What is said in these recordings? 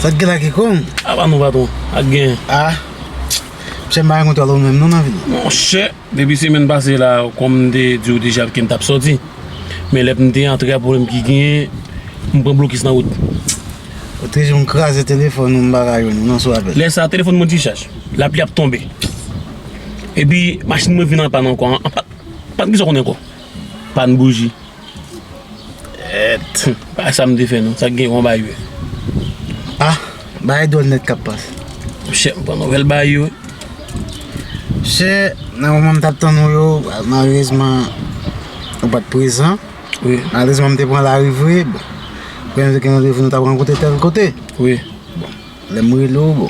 Sa t gen la kiko? A ba nou patron, sa t gen? A, msye m pa renkontre avè w menm non nan vil la. Monchè, depi semèn pase la, kòm m te di w deja ke m t ap sòti, men lè m te antre a pwoblèm ki genyen, m pran blokis nan wout. Ou te di m kraze telefòn ou m pa ka jwenn ou non sou apèl. Lè sa a telefòn mwen dichaj, lapli ap tonbe. Epi machin mwen vin an pàn ankò, an pat gen sa w konnen ankò. Pann bouji et. Bagay sa m te fè non sa gen yon bagay yo. Ah bagay dwòl nèt kap pas. Monchè m pran nouvèl bagay yo wi. Monchè nan moman m tap tann ou yo malerezman ou pat prezan. Wi. Malerezman m te pran lari vre bon. Gen yon randevou nou tap rankontre tèl kote. Wi. Bon. Lè m rele w,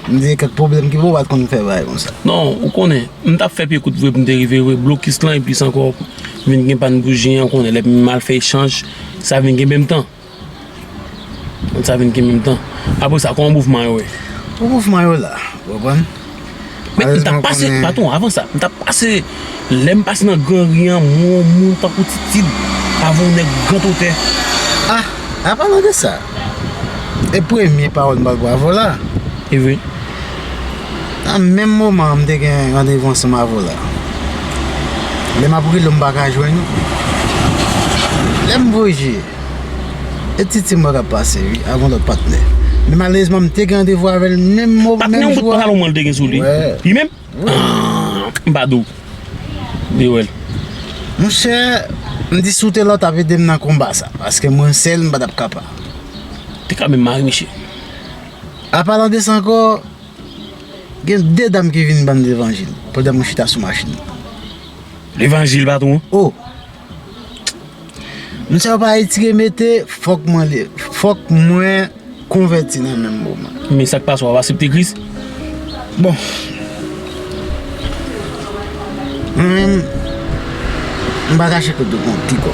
m di kèk pwoblèm ki fè w pa t konn fè bagay konsa. Non, ou konnen, m t ap fè pye kout vre pou m te rive wè blokis lan eplis ankò vin gen pàn bouji an, ou konnen lè m al fè echanj, sa vin gen menm tan. Sa vin gen menm tan. Apre sa, kòman mouvman yo ye? Bon, mouvman yo la, ou konprann. Men m ta pase, patwon avan sa, m ta pase, lè m pase nan gran ri an, m wè yon moun tankou Titid, avè yon nèg grantotè. A, a palan de sa, e premye pawòl m bat bravo la. E vre. Nan menm moman an m te gen randevou ansanm avè w la. Lè m ap rele w m pa ka jwenn ou. Lè m voye je. E ti ti mwen kap pase wi avon lòt patnè Men malerezman m te gen randevou avèl menm mo menm jou a Patnè w bout pantalon mwen l te gen sou li Li menm? Aah m pa di w M te wè l Monchè M di si w te la w tap ede m nan konba sa Paske mwen sèl m pa tap kapa Ou te ka menm mare misye A palan de sa ankò Gen de dam ki vin ban m levanjil pandan mwen chita sou machin Levanjil patwon? O! Moun sa yo pa etire mete fòk mwen li fòk mwen konvèti nan menm moman. Men sak pase wap asepte kris? Bon Mwen menm m pa kache kote m konn ki kò.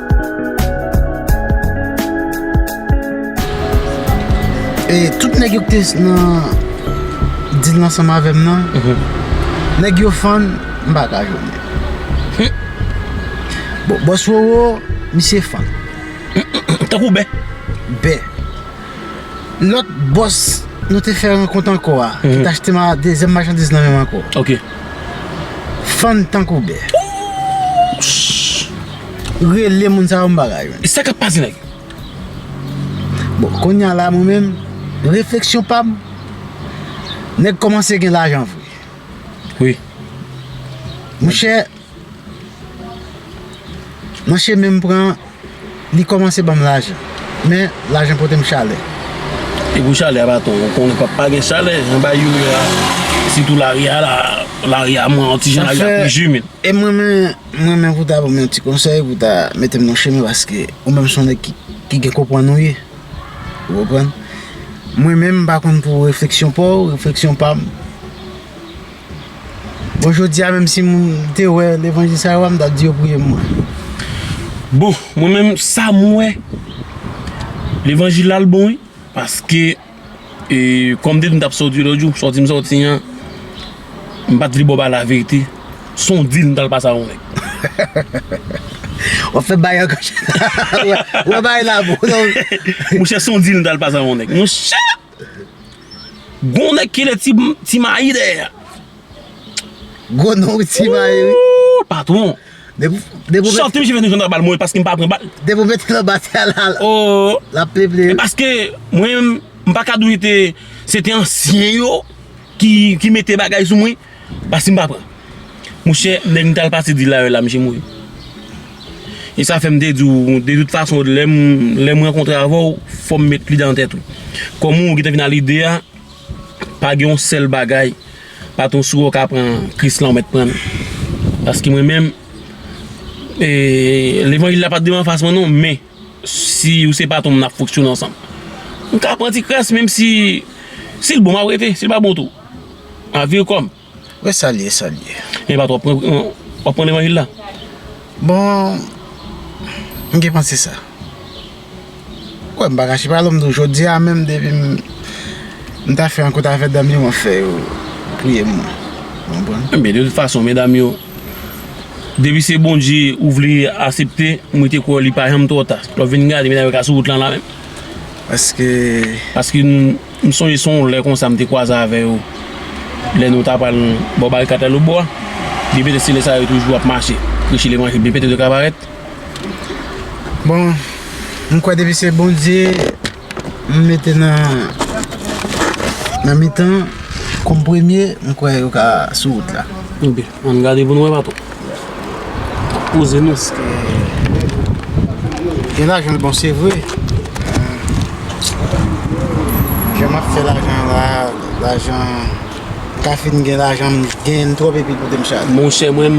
E tout nèg yo ki te nan deal la ansanm avè m nan, nèg yo fann, m pa ka jwenn yo. Bon, bòs Roro, misye fann. Tankou bè? Bè. Lòt bòs nou te fè rankont ankò a, ki t achte m a dezyèm machandiz nan men m ankò, fann tankou bè. Oouch! Rele moun sa yo m pa ka jwenn. Sa kap pase nèg? Bon kounya la mwen menm refleksyon pam nèg kòmanse gen lajan vre wi monchè mwen cheme m pran li kòmanse banm lajan men lajan pote m chalè e pou chalè a pa tou ou konnen pap pa gen chalè anba youri a sitou lari a la lari a mwen an ti jan lari a pi jimil e mwen menm M renmen pou w ta ban m yon ti konsèy, pou w ta mete m nan chemen paske ou menm se yon nèg ki gen konprann ou ye. Ou konprann? Mwen menm m pa konn pou refleksyon pa w, refleksyon pa m. Bon jodi a menm si m te wè levanjil sa yo a, m ta di yo priye m mwen. Bon, mwen menm sa m wè levanjil la l bon wi paske. E kòm depi m tap sòti lòt jou, sòti m sòti an, m pat vle ba w pale laverite, s on dil m tal pase ak yon nèg. Wap fè bagay ankò chè. Wè bagay la bon non. Monchè s on dil m tal pase ak yon nèg. Monchè! Gon nèg ki rele ti mayi dèyè a. Gwo non ti mayi wi. Ooh! Patwon! Chante misye fè nou jwenn nan bal mwen paske m pa pran bal. Depi w mete nan bas ya la l ap ple ple. E paske mwen menm m pa ka di w se te se te ansyen yo ki mete bagay sou mwen paske m pa pran. Monchè nèg m t al pase di la yo la misye mouri. E sa fè m te di w de tout fason lè m rankontre avè w fò m met lide nan tèt ou. Kòm ou gen te vin nan lide a Pa gen yon sèl bagay patron si wè w ka pran kris lan ou mèt pran l paske mwen menm levanjil la pa devan fas mwen non men si ou se patron m n ap fonksyone ansanm m ka pran ti kras menm si si l bon m ap rete si l pa bon tou m ap vire kò m. Wè sa l ye, sa l ye. E pa twòp, w ap pran levanjil la? Bon, m gen panse sa. Ou wè m pa kache pale w, m di w jodi a menm depi m m ta fè yon kout avè dam yo m ap fè yo touye m mwen. Ou konprann? Enben, de tout fason, medam yo, depi se Bondye ou vle asepte, m rete kwè w li pa janm twò ta. Lè w vin gade medam yo ka sou wout lan la menm. Paske? Paske nou. M sonje se yon lè konsa m te kwaze avè yo lè nou ta pral bò Barikat Lalobo a. Byen petèt se lè sa yo toujou ap mache preche levanjil byen petèt yo ka parèt. Bon, m kwè depi se Bondye m mete nan mitan kòm premye, m kwè yo ka sou wout la. Ann gade pou nou wè patron. Nap poze nou. Eske gen lajan bon se vre. Jan map fè lajan la lajan ka fin gen lajan gen trop epi pou tem chal. Monchè mwen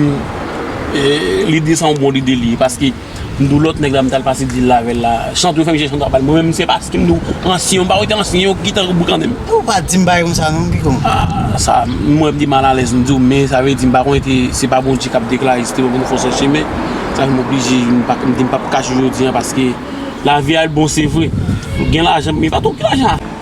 lide sa yon bon lide li paske. Mdo lòt nèg la mtal pase dil la avèl la chante fèm jè chante pal mwen menm se pase mdo ansyen yo pa wè te ansyen yo ki tankou boukannen. Pou ou pa dim bagay konsa non pipo. Ah sa m wè m te mal alèz m di w men sa vle di m pa konnen te se pa Bondye kap deklare se te mwen pou m fon sòsye men sa fè m oblije m pa m di m pap kache jodi an paske lavi a l bon se vre gen lajan men pa tout ki lajan.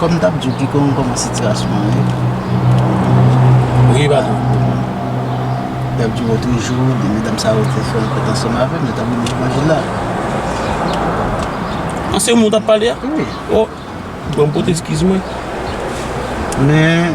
Kòm m tap di w piga ou kòman sitirasyon an ye. Wi patron. M tap di w otre jou 2 medam sa yo te fè yon kont ansanm avè m yo tap vini levanjil la. An se moun w tap pale a? Wi. O, bon m pote eskiz mwen. Men.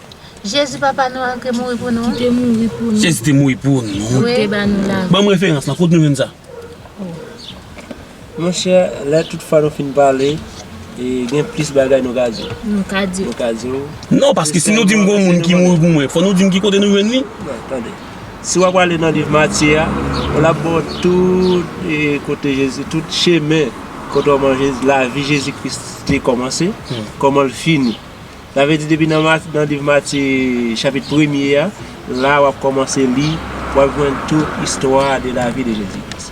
Jezi papa nou an te mouri pou nou. Jezi te mouri pou nou. Li te ba nou lavi. Banm referans lan kot nou jwenn sa. Monchè lè tout fwa nou fin pale gen plis bagay nou ka di. Nou ka di. Nou ka di. Non paske si nou dim gon moun ki mouri pou mwen fò nou dim ki kote nou jwenn li. Non tande. Si wap ale nan liv Matye a lap baw tout kote Jezi tout chemen kòman lavi Jezi kris te kòmanse kòmanl fini. Sa vle di depi nan liv Matye chapit premye a, la wap kòmanse li, wap jwenn tout istwa de lavi de Jezi Kris.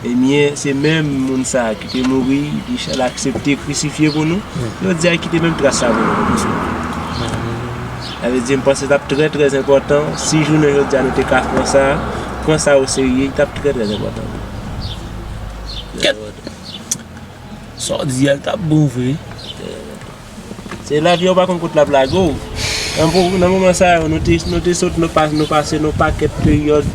Ebyen, se menm moun sa ki te mouri, li aksepte krisifye pou nou, jodi a li kite menm tras sa pou nou pou sou nou. Sa vle di m panse tap trè trè enpòtan si jounen jodi a nou te ka pran sa, pran sa o serye, li tap trè trè enpòtan pou nou. Kèt! Sa w di a li tap bon vre. Se lavi a ou pa konn kot lap lage w. Nan moman sa yo nou te sot nou pase yon pakèt peryòd.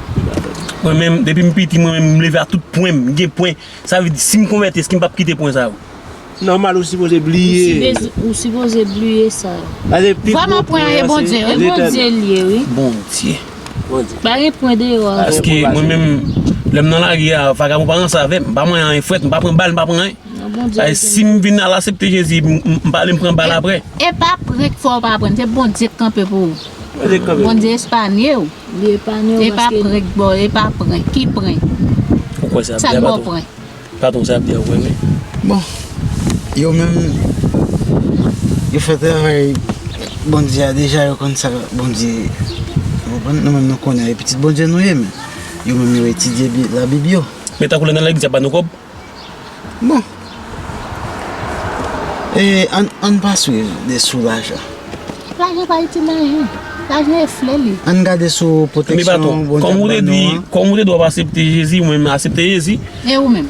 Mwen menm depi m piti mwen menm m leve ak tout pwen m gen pwen sa vle di si m konvèti èske m pap kite pwen sa yo? Nòmal ou sipoze bliye yo. Ou sipoze bliye sa yo. Pase pi gwo pwen an se Bondye. E Bondye l ye wi. Bondye. Bondye. Pa gen pwen deyò a. Paske mwen menm lè m nan lari a vagabon pa ranse avè m. M pa manyen anyen frèt, m pa pran bal, m pa pran anyen. Non Bondye l gen. Paske si m vin al asepte Jezi m pa ale m pran bal aprè. E pa pran k fè w pa pran se Bondye k kanpe pou ou. Bondye espanye w. E pa prenk boo. E pa prenk. Ki prenk? Sa k boo prenk? Patron sa ap di a vre wi. Bon yo menm yo fè travay Bondye a deja yo konn sa Bondye ou konprann nou menm nou konnen e pitit Bondye nou ye men yo menm yo etidye la bib yo. Men tankou lè nan legliz y ap ba nou kòb. Bon E ann pa swiv de sou lajan. Lajan pa itil anyen. Lajan e fle li. Ann gade sou pwoteksyon Bondye ap ban nou an. Anba tou, kòm ou te di, kòm ou te di wap asepte Jezi, ou menm asepte Jezi. E ou menm?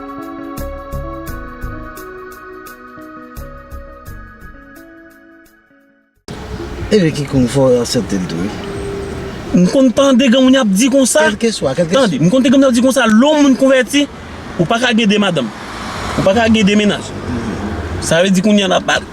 Epi ki kon fò yon sèten tou wi. M konn tande gen moun y ap di konsa. Kèlke swa, kèlke swa. Tande, m konn tande gen moun y ap di konsa, lè yon moun konvèti, ou pa ka gen 2 madanm. Ou pa ka gen 2 mennaj. Sa vle di kounye an l ap.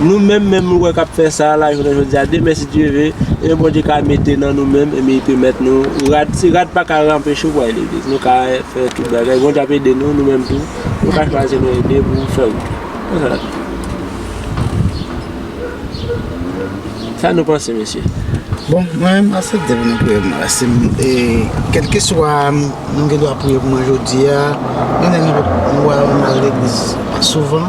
Nou menm menm nou wè kap fè sa la jounen jodi a demen si Dye ve e Bondye ka mete nan nou menm e mi pèmèt nou rad si rad pa ka ranpeche ou pou al legliz nou ka fè tout bagay Bondye ap ede nou nou menm tou nou ka chwazi nou ede pou fè wout la se sa nap di sa nou panse mesye bon mwen menm map aksepte pou nou priye pou mwen si e kelke swa nou gen dwa priye pou mwen jodi a menm lè nou wè nou al legliz souvan.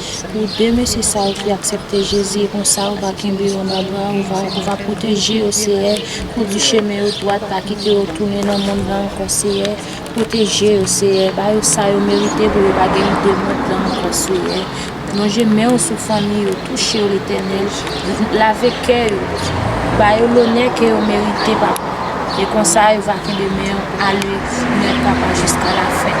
Pou de mesye sa yo ki aksepte Jezi e konsa ou va kenbe yo nan bra ou, ou va pwoteje yo Seyè, kondi chemen yo dwat pa kite yo tounen nan mond lan ankò Seyè, pwoteje yo Seyè, ba yo sa yo merite pou yo pa gen lide mond lan ankò Seyè, lonje men ou sou fanmi yo, touche yo Letènèl, lave kè yo, ba yo lonè ke yo merite Papa, e konsa yo va kenbe men ou ale net Papa jiska lafen.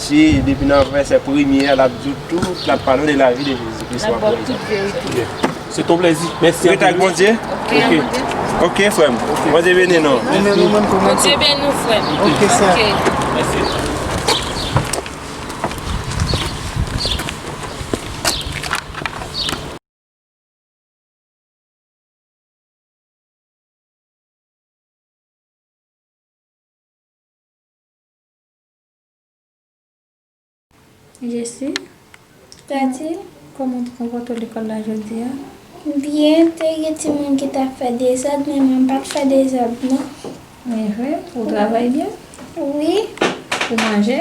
Si depi nan vèsè premye a lap diw tout lap pale w de lavi de Jezi Kris wap wè ekzanp. Se ton plezi. Mèsi anpil. Ou rete ak Bondye? Ok. Ok frè m. Bondye beni nou. Bondye beni w frè m. Ok sè. Mèsi. Jesi, Tati, kòman w te konpòte w lekòl la jodi a? Byen, te gen ti moun ki t ap fè dezòd men mwen m pa t fè dezòd non. Envè, ou travay byen? Wi. Ou manje?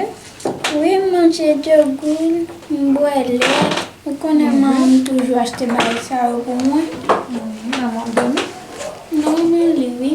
Wi, m manje djogwil, m bwè lèt. Ou konnen manman m toujou achte bagay sa yo pou mwen. Manman w dòmi? Non, li li wi.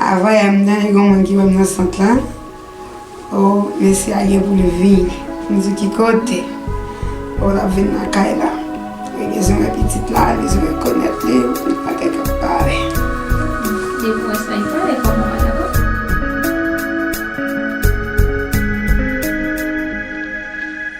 Avan yè m tande gon moun ki wè m nan sant lan oh mesye a gen pou l vin m di ki kote oh l ap vin nan kay la li bezwen wè pitit la li bezwen wè konèt li yon seri de bagay k ap pale. Depi w wè sa li pale kòman w pa dakò.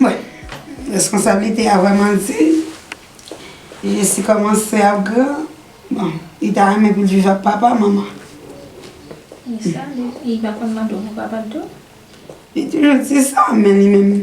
Mwen, reskonsablite a vreman di, Jesi komanse ap gran, bon, li ta renmen pou l viv ak papa, manman. Li sa, li pa konn mande w pou papa l tou? Li toujou di sa, men li menm,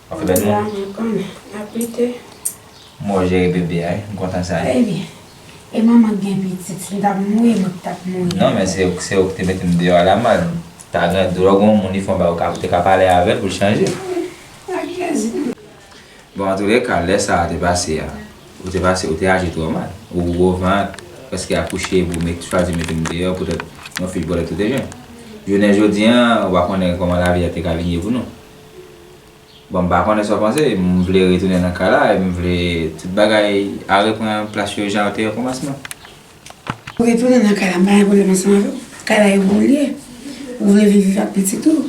Ok bèl moun. Ala mwen konn ap lite. Mwen wè w jere bebe a wi, m kontan sa. Baby, e manman k gen pitit, si m ta mouri mwen k tap mouri. Non men se ou, se ou k te mete m deyò a la mal. Ta gen dwa gon moun li fon ba ou ka, ou te ka pale avè l pou l chanje. Wi, ak plezi. Bon an toulè ka lè sa a te pase a, ou te pase, ou te aji twò mal. Ou wou gwo vant, prèske akouche epi w met, chwazi mete m deyò poutèt yon fi bòlèt ou te jwenn. Jounen jodi an, ou pa konnen kòman lavi a te ka vin ye pou nou. Bon m pa konnen sa w panse, m vle retounen nan kay la e m vle tout bagay a repran plas yo jan yo te okòmansman. Ou vle tounen nan kay la, m pa gen pwoblèm ansanm avè w. Kay la e bon li ye. Ou vle viv viv ak pitit ou.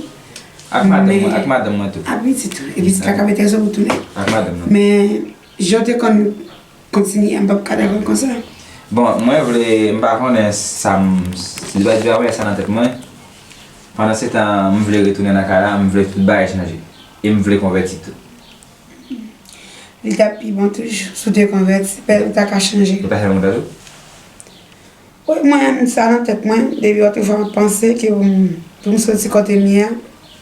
Ak madanm mwen tou. Ak pitit ou. Epi se kaka mete ansanm ou tounen. Ak madanm mwen. Men. Jan te konn kontinye a m pap ka dakò konsa. Bon mwen vle m pa konnen sa m si li pa di bagay sa nan tèt mwen pandan se tan m vle retounen nan kay la m vle tout bagay chanje e m vle konvèti tou. Li t ap pi bon toujou si w te konvèti pè ou ta ka chanje. Ou ta fè m kontan tou? Wi mwen sa nan tèt mwen depi otrefwa m ap panse ke pou m soti kote m ye a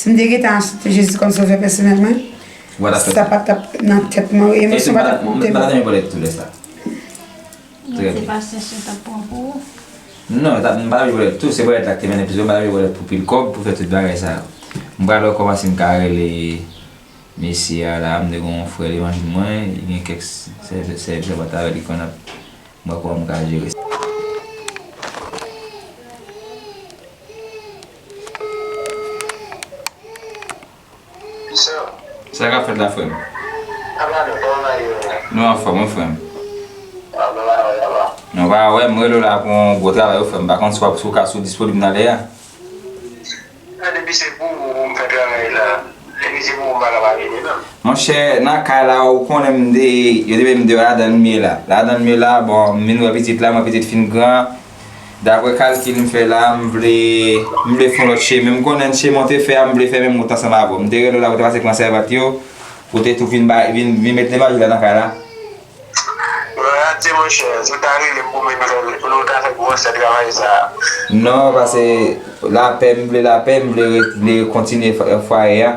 Si m te gentan asepte Jezi kòm Sovè pèsonèl mwen, sa pa t ap nan tèt mwen. E emosyon pa t ap pote mwen. Mwen se pa chèche yo t ap pran pou ou. Non, yo t ap m pa vle bòlèt tou. Se bòlèt la k te mennen plis. Mwen pa t vle bòlèt pou pil kòb, pou fè tout bagay sa yo. M pa t wè kòman si m ka rele mesye a la. M te gen yon frè levanjil mwen. Li gen kèk sèvant avè l ki konn ap m wè kòman m ka jere sa. Sa kap fèt la frèm? Nou anfòm wi frèm. Nou pa wèm, m rele w la pou yon gwo travay wi frèm, m pa konn si wap si w ka sou disponib nan lè a. Monchè nan kay la ou konnen m de yo te mete m deyò ladan l m ye la. Ladan l m ye la bon m vin wè pitit la m wè pitit fin gran. Daprè kalkil m fè la, m vle m vle fon lòt chemen. M konnen chemen w te fè a, m vle fè menm wout ansanm avè w. M te rele w la pou w te pase pran sèvant yo, pou w te tou vin bay vin vin met Lemaji la nan kay la. Yon rate monchè, si w ta rele m pou m vin fè l, nou ta fè gwòsè travay sa a. Non, pase lapè, m vle lapè, m vle vle kontinye fwaye a.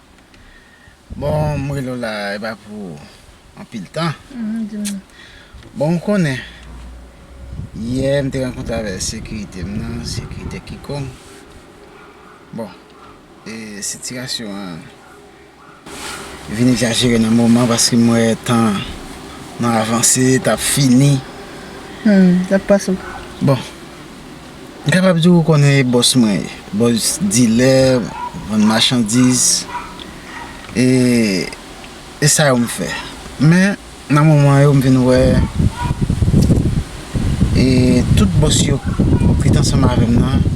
Bon m rele w la e pa pou anpil tan Bon ou konnen yè m te rankontre avèk sekirite m nan sekirite kikong Bon e sitirasyon an vin egzajere nan moman paske m wè tan an nan avanse t ap fini Bon M kapab di ou konnen e bòs mwen ye. Bòs dilè, vann machandiz, e e sa yo m fè. Men, nan moman yo m vin wè e tout bòs yo ki t ansanm avè m nan,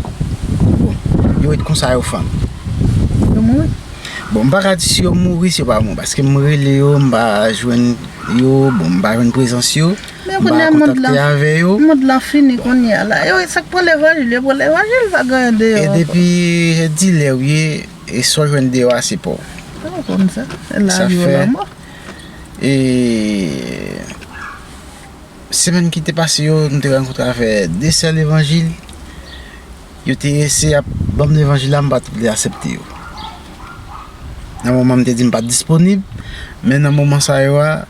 bon, yo ret konsa yo fann. Yo mouri. Bon, m pa ka di si yo mouri, si yo pa mouri. Paske m rele yo, m pa jwenn yo, bon m pa jwenn prezans yo. Men kounya mond lan mond lan fini kounya la yo sak pran levanjil yo pran levanjil pa gen anyen deyò ankò. E depi e dilè ou ye e sa w jwenn deyò a se pa w. Mwen pa konn sa e lavi ou lanmò. E semèn ki te pase yo m te rankontre avè 2 sè levanjil yo te eseye ap banm levanjil la m pat vle asepte yo. Nan moman m te di m pat disponib men nan moman sa yo a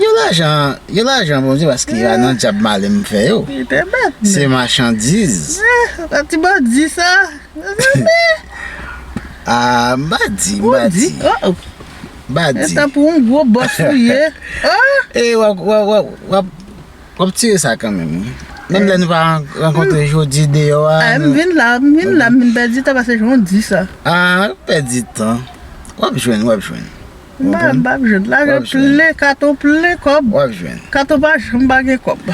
Yo lajan, yo lajan Bondye paske yo al nan dyab male m fè yo. Li te mèt menm. Se machandiz. An ti bandi sa. Ah, m pa di, m pa di. Ou di? Oh oh. M pa di. Etan pou yon gwo bòs ou ye. Oh! E wap, wap, wap, wap, wap tire sa kanmenm wi. Menm lè nou pa rankontre jodi deyò a. Ah, m vin la, m vin la, m vin pèdi tan pase jan w di sa. Ah, wap pèdi tan. Wap jwenn, wap jwenn. M pa m pap jwenn lajan plen katon plen kòb wap jwenn katon pa janm pa gen kòb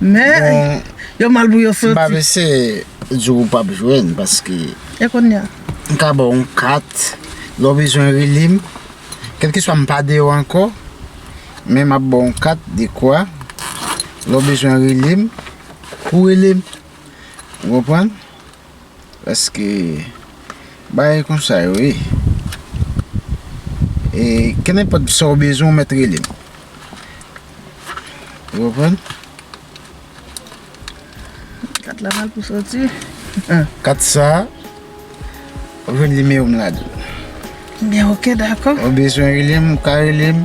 men yo mal pou yo sòti m pap eseye di w ou pap jwenn paske e konnya m ka ba w yon kat lè w bezwen rele m kèlkeswa m pa deyò ankò men m ap ba w yon kat dekwa lè w bezwen rele m pou w rele m ou konprann. Paske bagay konsa yo ye. E kenenpòt sa ou bezwen ou mèt rele m. Ou konprann? Kat la mal pou soti. Kat sa ou jwenn nimewo m ladan l. Enben ok dakò. Ou bezwen rele m ou ka rele m.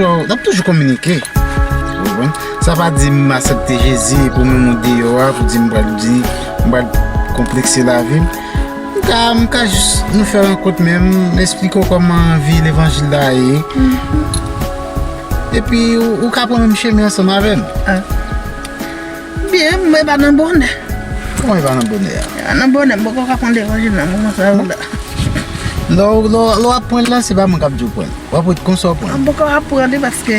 N ap toujou kominike. Sa pa di m asepte Jezi pou m moun deyò a, pou di m bal di, m bal konplekse lavi m. M ka jis nou fè rankont men m esplike w kòman vi levanjil la ye. Epi ou ka pran menm chemen ansanm avè m. Byen, m e pa nan bonè. Kòman e pa nan bonè? Nan bonè m poko ka pran levanjil nan moman sa yo la. Lè w ap pran l la se pa mwen k ap di w pran l. W ap wè konsa w pran l. M poko ap pran li paske.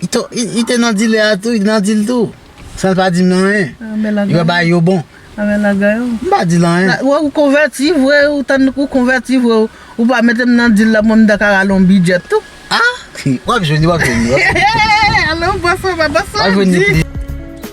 Li te nan dilè a tou, li te nan dil tou. San l pa di m nan anyen. Li pa bay yo bon. Anben lagay ou. M pa di l anyen. Wè ou konvèti vre, ou tann ou konvèti vre ou. Ou pa mete m nan dil la mwen m ta ka rale yon bidjèt tou. A! Wap jwenn li, wap jwenn li. He he he! Alon, bwè sa, bwè sa, di.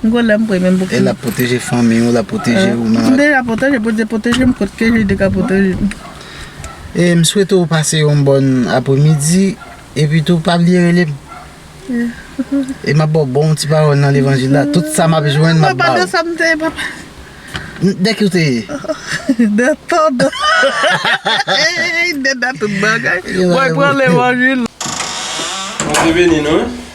M gwo lè m pre menm pou kri. E lap pwoteje fanmi ou lap pwoteje ou nan. M deja pwoteje bondye pwoteje m kot ke je te ka pwoteje m. E m swete ou pase yon bòn apremidi epi tou pa bliye rele m. E map baw bon ti pawòl nan levanjil la tout sa map jwenn map baw. Papa de sa m te ye papa. De ki ou te ye? De tout. Eey de dat tout bagay. Mwen pran levanjil. Bondye beni nou wi.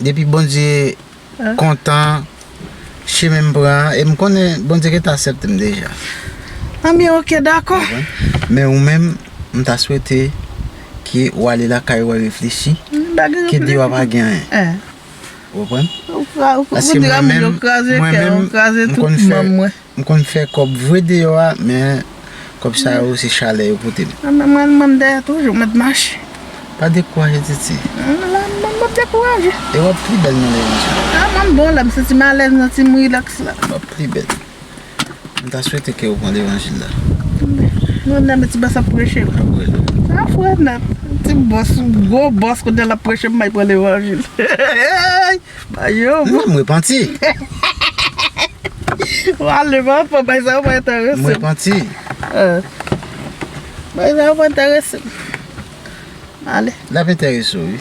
depi Bondye kontan chemen m pran an e m konnen Bondye gentan asèpte m deja enben ok dakò men ou menm m ta swete ke ou ale lakay ou al reflechi ke deyò a pa gen anyen ou konprann paske mwen menm m konn fè M konn fè kòb vre deyò a men kòb sa yo se chalè yo pote m. Mwen menm m ann dèyè toujou m mèt mache. Pa dekouraje Titi. M la m pap dekouraje. E w ap pli bèl nan lèzon sa. A mwen m bon la m santi m alèz m santi m rilaks la. W ap pli bèl. M ta swete ke w pran levanjil la. M renmen ti bòs ap preche la. Ap preche. Sa a fre nèt. Ti bòs yon gwo bòs kounye a l ap preche m bay pran levanjil. Mwen m repanti. Wale man fò bay sa yo pa enterese m. M repanti. Bay sa yo pa enterese m. Ale. L ap enterese w wi.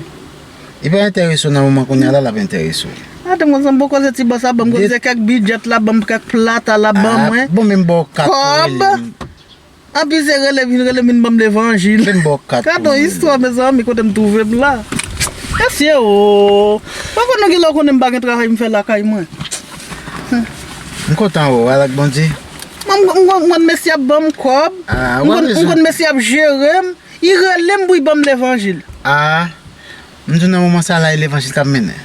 Li pa enterese w nan moman kounye a la l ap enterese w. A te m konn sa m pou w koze ti bòs la ban m. Koze kèk bidjèt la ban m kèk plat a la ban mwen. Bon men m ba w kat pou w rele m. Kòb. Anpi se rele vin rele min banm levanjil. Ken baw kat pou mwen. Gadon istwa mezanmi kotem trouvem la. Mesye ooh. Mwen konn nou genlè konnen mpa gen travay mfè lakay mwen. M kontan wè w al ak Bondye. M konn mesye ap banm kob. M konn mesye ap jerem. I relem pou i banm levanjil. Ah M tou nan moman sa la e levanjil kap mennen.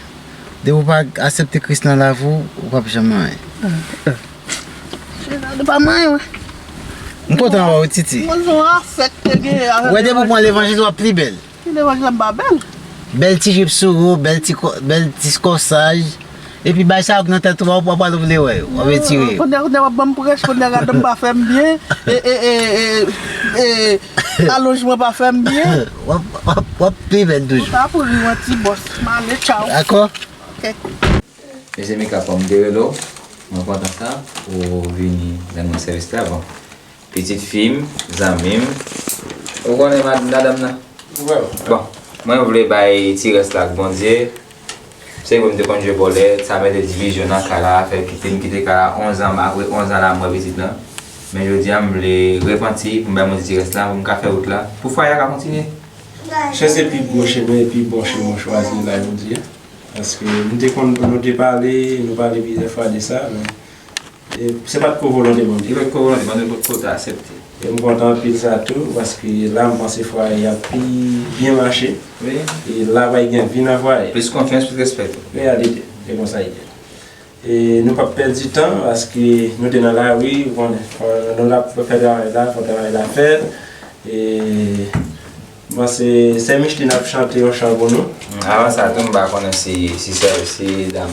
Depi ou pa asepte Kris nan lavi w, ou pap janm anyen. Gerard ou pa manyen wè. M kontan wè w Titi. Mwen son afè k te genyen avèm. Wè depi ou pran levanjil wap pi bèl. Ki levanjil la m pa bèl? Bèl ti jupe sou ou, bèl ti kosaj. Epi bay sa yo nan tèt ou wap wap al vle wè yo wap etire yo. Kounya kounya wap banm prèch kounya gadonm pa fèm byen ee alonjman pa fèm byen. Wap pi vèn toujou. Sa pou riw an ti bòs m ale tchaw. Dakò. Ok. Mesi Mika kòm m te rele w mwen kontan sa ou vini rann mwen sèvis la bon. Pitit fi m, zanmi m. Ou konnen madanm nan? Bon, mwen vle bay ti rès la ak Bondye. Se vre m te konn jwe vòlè, sa mete divizyon nan kay la, fè kite m kite kay la onzan apre onzan lanmò pitit lan. Men jodi a m vle repanti pou m bay Bondye ti rès la pou m ka fè wout la, pou fwaye a ka kontinye. Chè se pi gwo chemen e pi bon chemen ou chwazi la jodi a. Paske m te konn nou te pale, nou pale plizyè fwa de sa men Se pat ko volonte bon Dye. Se pat ko volonte bon Dye pou w te asepte. E m kontan anpil sa tou paske la m panse fwaye a pi byen mache. Wi. E la va gen vi nan fwaye. Plis konfyans, plis respè tou. Reyalite. E konsa li ye. E nou pap pèdi tan paske nou te nan lari ou konnen. Fò nou la pou fè travay la, fò travay la fèt. E m panse sè Micheline ap chante yon chan pou nou. Avan sa tou m pa konnen si sè si dam.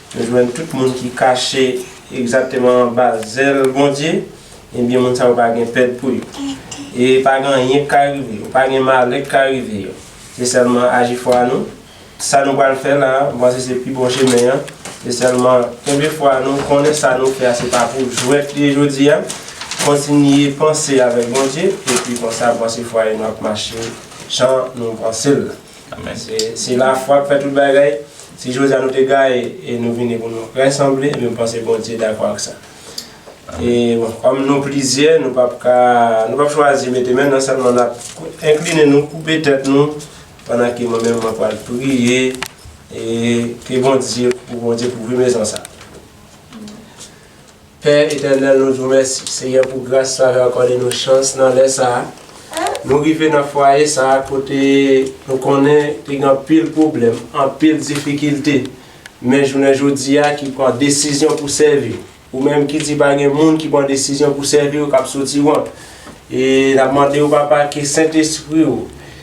Nou jwenn tout moun ki kache egzakteman anba zèl Bondye, ebyen moun sa yo pa gen pèd pou yo. E pa gen anyen ki ka rive yo, pa gen malè ki ka rive yo. Se sèlman aji fwa nou. Sa nou pral fè la a, m panse se pi bon chemen an. Se sèlman kenbe fwa nou, konnen sa nou fè a se pa pou jwèt li ye jodi a, kontinye panse avèk Bondye, epi konsa m panse fwaye nou ap mache jan nou panse l la. Amen se la fwa k fè tout bagay si jodi a nou te gaye e nou vini pou nou resanble ebyen m panse Bondye dakò ak sa e bon kòm nou plizyè nou pap ka nou pap chwazi mete men nan sèlman n ap enkline nou koupe tèt nou pandan ke mwen menm mwen pwal priye e ke Bondye pou Bondye kouvri mezon sa. Pè etènèl nou diw mèsi Senyè pou gras sa yo akòde nou chans nan lè sa nou rive nan fwaye sa kote nou konnen te gen anpil pwoblèm anpil difikilte men jounen jodia ki pran desizyon pou sèvi ou menm ki di pa gen moun ki pran desizyon pou sèviw kap soti wont e nap mandew papa ke sentespriw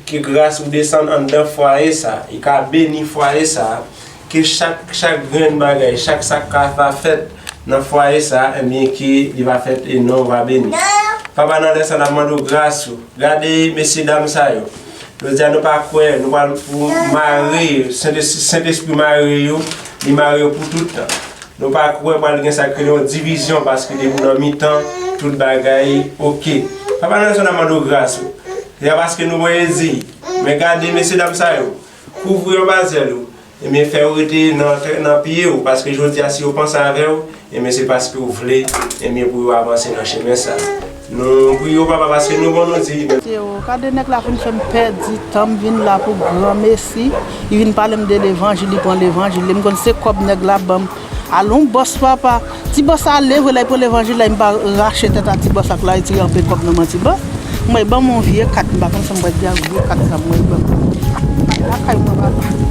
ke gras ou desann anndan fwaye sa e ka beni fwaye sa Ke chak chak grenn bagay, chak sa k ka va fèt nan fwaye sa a, enbyen ke li va fèt e non w va beni. Papa, nan lè sa a, n ap mande w gras ou. Gade mesye dam sa yo. Jodi a nou pa kwè, nou pral pou mare yo, Sentespri Sentespri mare yo, li mare yo pou tout tan. Nou pa kwè pral gen sa k rele yon divizyon paske depi w nan mitan, tout bagay oke. Papa nan lè sa a, n ap mande w gras ou. Se pa paske nou voye di, men gade mesye dam sa yo, Kouvri anba zèl ou, ebyen fè yo rete nan pye ou, paske jodi a si yo panse avè ou, ebyen se paske ou vle, ebyen pou yo avanse nan chemen sa. Nou priye ou papa paske nou bon nou di. Théo, kade nèg la vin fèm pèdi tanm vin la pou granmesi, li vin palem de levanjil li pran levanjil li, m konn se kòb nèg la banm. Alon bòs papa. Ti bòs sa ale vre lè pou levanjil la mpa rache tèt a ti bòs ak laiti anpe kòb nan manti bon mwen banm yon vye kat mpa konn sam pral di ak vye kat sa mwen banm al lakay mwen papa.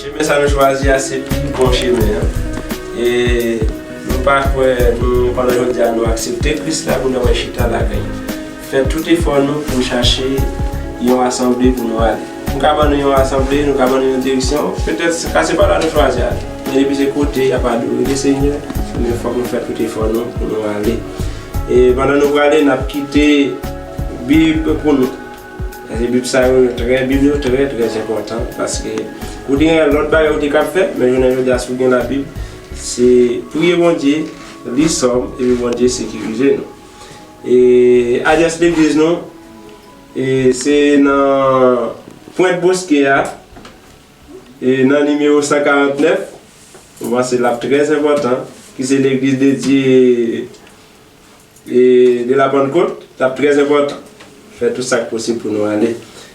Chemen sa nou chwazi a se pi bon chemen an. E nou pa kwè nou pandan jodi a nou aksepte Kris la pou nou al chita lakay li. Fè tout efò nou pou chache yon asanble pou nou ale. M ka ban nou yon asanble, nou ka ban nou yon direksyon, petèt se ka se pa la nou chwazi ale. Men depi se kote y ap adore Lesenyè, ebyen fòk nou fè tout efò nou pou nou ale. E pandan nou prale, n ap kite bib pou nou. Paske bib sa yo trè, bib yo trè trè enpòtan paske ou te gen lòt bagay ou te ka fè, men jounen jodi a si ou gen labib, se priye Bondye, li sòm, epi Bondye sekirize nou. Adrès legliz nou se nan pwent boske a nan nimewo 149 ou panse l ap trè enpòtan ki se legliz de Dye de la pannkot l ap trè enpòtan fè tout sa k posib pou nou ale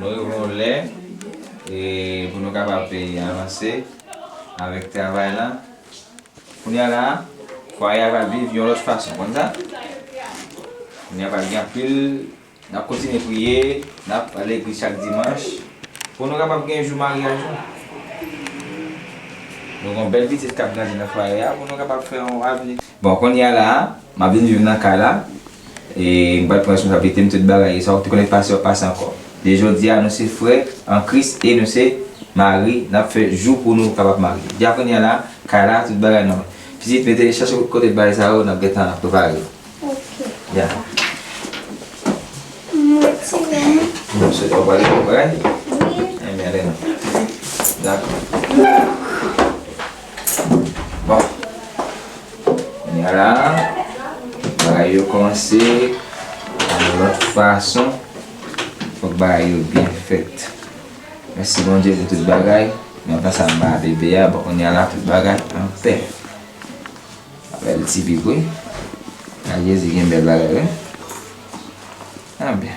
Nou rive yon lè pou nou kapab avanse avèk travay la. Kounye a la a, fwaye a pral viv yon lòt fason. Ou konn sa? Kounye a pral gen anpil, n ap kontinye priye, n ap al legliz chak dimanch pou nou kapab gen jou maryaj nou. Nou gen yon bèl pitit k ap grandi nan fwaye a pou nou kapab fè yon avni. Bon konnya la a map vin viv nan kay la e m pral pran responsablite m tout bagay e sa w t konnen pase wap pase ankò e jodia nou se frè an kris e nou se mari nap fè jou pou nou kapab marye ja konnya la kay la tout bagay nòmal pitit mete chache kote bagay sa yo nap gentan nap prepare yo ok papa m retire m m swete wap ale bon bagay wi anben ale nou dakò. Bon. Kounye la, bagay yo kòmanse yon lòt fason. Fòk bagay yo byen fèt. Mèsi Bondye pou tout bagay. Nan tan sa m ba bebe a, bon kounye la tout bagay anpè. Bèl ti bib wi. Jezi gen bèl bagay wi. Anben.